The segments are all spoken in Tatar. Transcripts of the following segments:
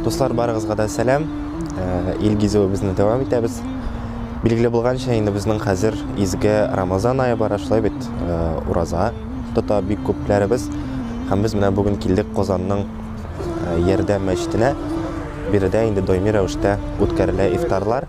Дуслар барыгызга да сәлам. Э, ил гизүебезне дәвам итәбез. Билгеле булганча, инде безнең хәзер изге Рамазан ае бара, шулай бит, э, ураза тота бик күпләребез. Һәм без менә бүген килдек Казанның э, Ярдәм мәчетенә. Биредә инде даими рәвештә үткәрелә ифтарлар.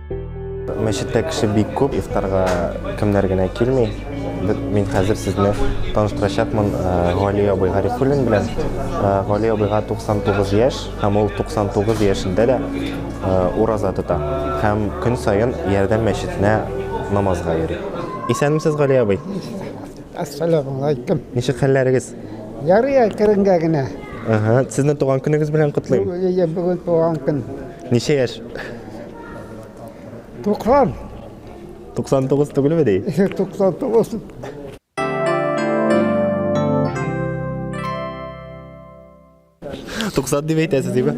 Мәчеттә кеше бик күп, ифтарга кемнәр генә килми. Мин хәзер сезне таныштырачакмын э, Гали абый Гарифуллин белән. Э, Гали абыйга 99 яшь, һәм ул 99 яшендә дә э, ураза тота. Һәм көн саен Ярдәм мәчетенә намазга йөри. Исәнмесез, Гали абый? Ассаламу алейкум. Ничек хәлләрегез? Ярый, әкренге генә. Ага, сезне туган көнегез белән котлыйм. Бүген туган көн. Ничә яшь? 90. 99 түгелме ди? 99. Туксан дип әйтәсез диме?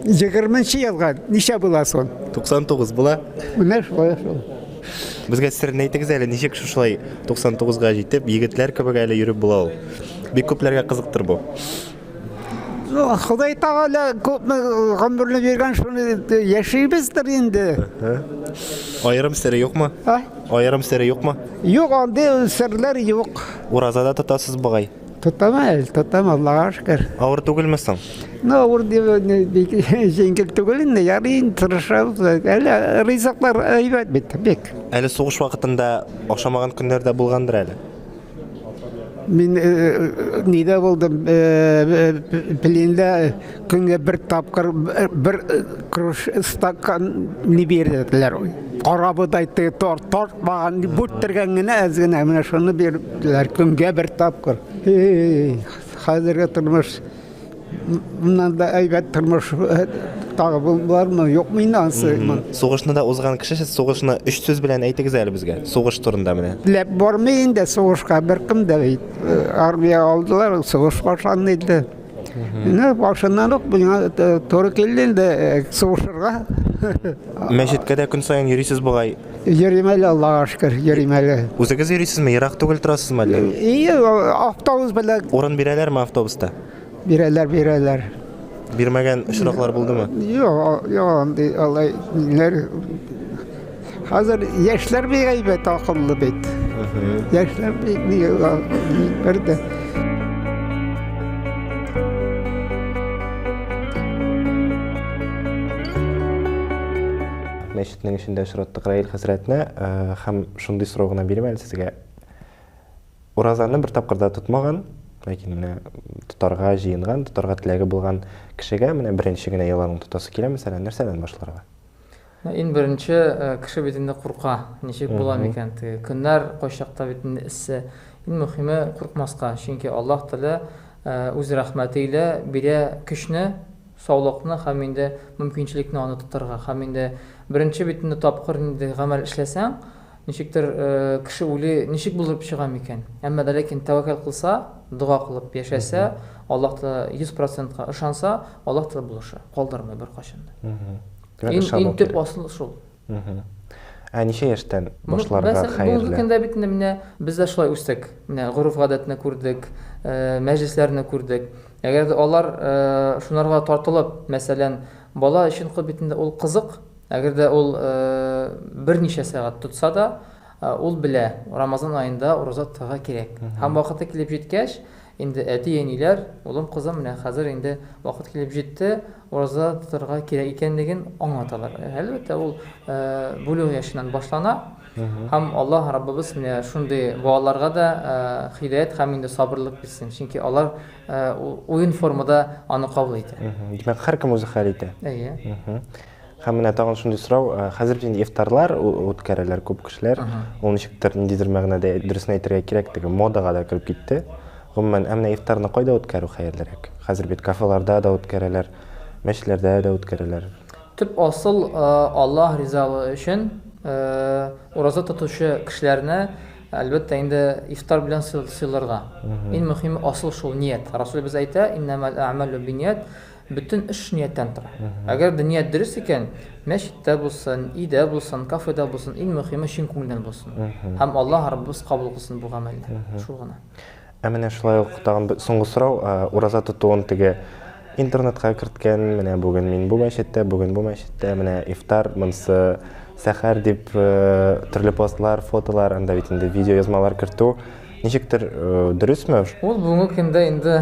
Егерменче елга ничә була сон? Туксан тугыз була. Менә шулай шул. Безгә серне әйтегез әле, ничек шушылай 99 га җитеп, егетләр кебек әле йөреп була ул. Бик күпләргә кызыктыр бу. Ну, Ходай Тәгалә күпме гомерне биргән, шуны яшибездер инде. Аерым сер юкмы? А? Аерым сер юкмы? Юк, андый серләр юк. Уразада тотасыз бугай. Тотам әле, тотам, Аллага шөкер. Авыр түгелме соң? Ну, авыр дип, не, бик җиңел түгел инде, ярый инде, тырышабыз. Әле ризыклар әйбәт бит, бик. Әле сугыш вакытында ашамаган көннәр дә булгандыр әле. Мин э, э, нидә булдым? Э, Пленда көнгә бер тапкыр бер круш стакан не бирделәр. Карабыдай тор тортмаган бүттергән генә әз генә менә шуны бирделәр көнгә бер тапкыр. Хәзерге тормыш Моннан да әйбәт тормыш э, тагы бармы, юкмы инде ансы? Сугышны да узган кеше сез сугышны өч сүз белән әйтегез әле безгә. Сугыш турында менә. Ләп бармый инде сугышка беркем дә бит. Э, армия алдылар, сугыш башланды инде. Менә башыннан ук миңа э, туры килде инде сугышырга. Мәчеткә дә көн саен йөрисез бугай. Йөрим әле, Аллага шөкер, йөрим әле. Үзегез йөрисезме, ерак түгел торасызмы әллә? И, автобус белән. Урын бирәләрме автобуста? Бирәләр, бирәләр. Бирмәгән очраклар булдымы? Юк, юк, андый алай ниләр. Хәзер яшьләр бик әйбәт, акыллы бит. Яшьләр бик бер дә. Төннең эчендә очраттык Раил хәзрәтне һәм шундый сорау гына бирим әле сезгә. Уразаны бер тапкыр да тотмаган, ләкин менә тотарга җыенган, тотарга теләге булган кешегә менә беренче генә яланын тотасы килә, мәсәлән, нәрсәдән башларга? Иң беренче кеше бит инде курка. Ничек була микән теге көннәр, кайчакта бит инде эссе. Иң мөхиме куркмаска, чөнки Аллаһ Тәгалә үз рәхмәте илә бирә көчне. саулыкны һәм инде мөмкинчелекне аны тотарга һәм инде беренче бит инде тапкыр ниндидер гамәл эшләсәң, ничектер кеше үле ничек булдырып чыга микән? Әмма дә ләкин тәвәкәл кылса, дога кылып яшәсә, Аллаһ Тәгалә 100 процентка ышанса, Аллаһ Тәгалә булыша, калдырмый беркайчан да. Ин төп асыл шул. Ә ничә яшьтән башларга хәерле? Бәс, бүгенге көндә бит инде менә без дә шулай үстек. Менә гореф-гадәтне күрдек, мәҗлесләрне күрдек. Әгәр дә алар шунарга тартылып, мәсәлән, бала өчен кол бит инде ул кызык. Әгәр дә ул берничә сәгать тотса да, ул белә, Рамазан аенда ураза тотарга кирәк. Һәм вакыты килеп җиткәч, Инде әти-әниләр, улым-кызым, менә хәзер инде вакыт килеп җитте, ураза тотарга кирәк икәнлеген аңлаталар. Әлбәттә, ул бүлүг яшеннән башлана. Һәм Аллаһ Раббыбыз менә шундый балаларга да һидаять һәм инде сабырлык бирсен, чөнки алар уен формада аны кабул итә. Димәк, һәркем үзе хәл итә. Әйе. Һәм менә тагын шундый сорау, э, хәзер бит инде ифтарлар үткәрәләр күп кешеләр. Ул ничектер ниндидер мәгънәдә дөресен әйтергә кирәк теге модага да кереп китте. Гомумән, ә менә ифтарны кайда үткәрү хәерлерәк? Хәзер бит кафеларда да үткәрәләр, мәчетләрдә дә үткәрәләр. Төп асыл э, Аллаһ ризалыгы өчен э, ураза тотучы кешеләрне, әлбәттә, инде ифтар белән сыйларга. Иң мөһиме асыл шул ният. Расулебез әйтә, иннәмәл әгъмәлү бинният, Бөтен эш нияттән тора. Әгәр дә ният дөрес икән, мәчеттә булсын, өйдә булсын, кафеда булсын, иң мөхиме, чын күңелдән булсын. Һәм Аллаһ Раббыбыз кабул кылсын бу гамәлне. Шул гына. Ә менә шулай ук тагын бер соңгы сорау, ураза тотуын теге интернетка керткән, менә бүген мин бу мәчеттә, бүген бу мәчеттә, менә ифтар, монсы сәхәр дип төрле постлар, фотолар, анда бит инде видеоязмалар кертү, Ничектер дөресме? Ул бүгенге көндә инде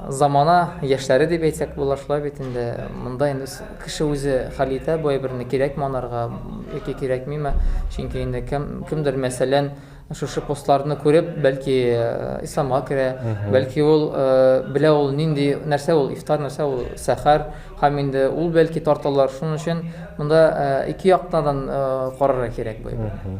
замана яшьләре дип әйтсәк була, шулай бит инде. Монда инде кеше үзе хәл итә бу әйберне кирәкме анарга яки кирәкмиме. Чөнки инде кем кемдер мәсәлән шушы постларны күреп, бәлки исламга керә, бәлки ул белә ул нинди нәрсә ул ифтар, нәрсә ул сәхәр, һәм инде ул бәлки тарталар. Шуның өчен монда ике яктан карарга кирәк бу әйберне.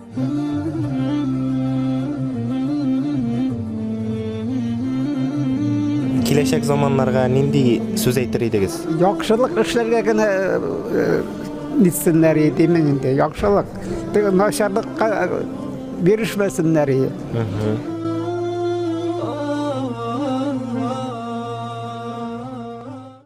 Киләчәк заманнарга нинди сүз әйтер идегез? Яхшылык эшләргә генә нитсеннәр иде мен инде. Яхшылык. Начарлыкка бирешмәсеннәр иде.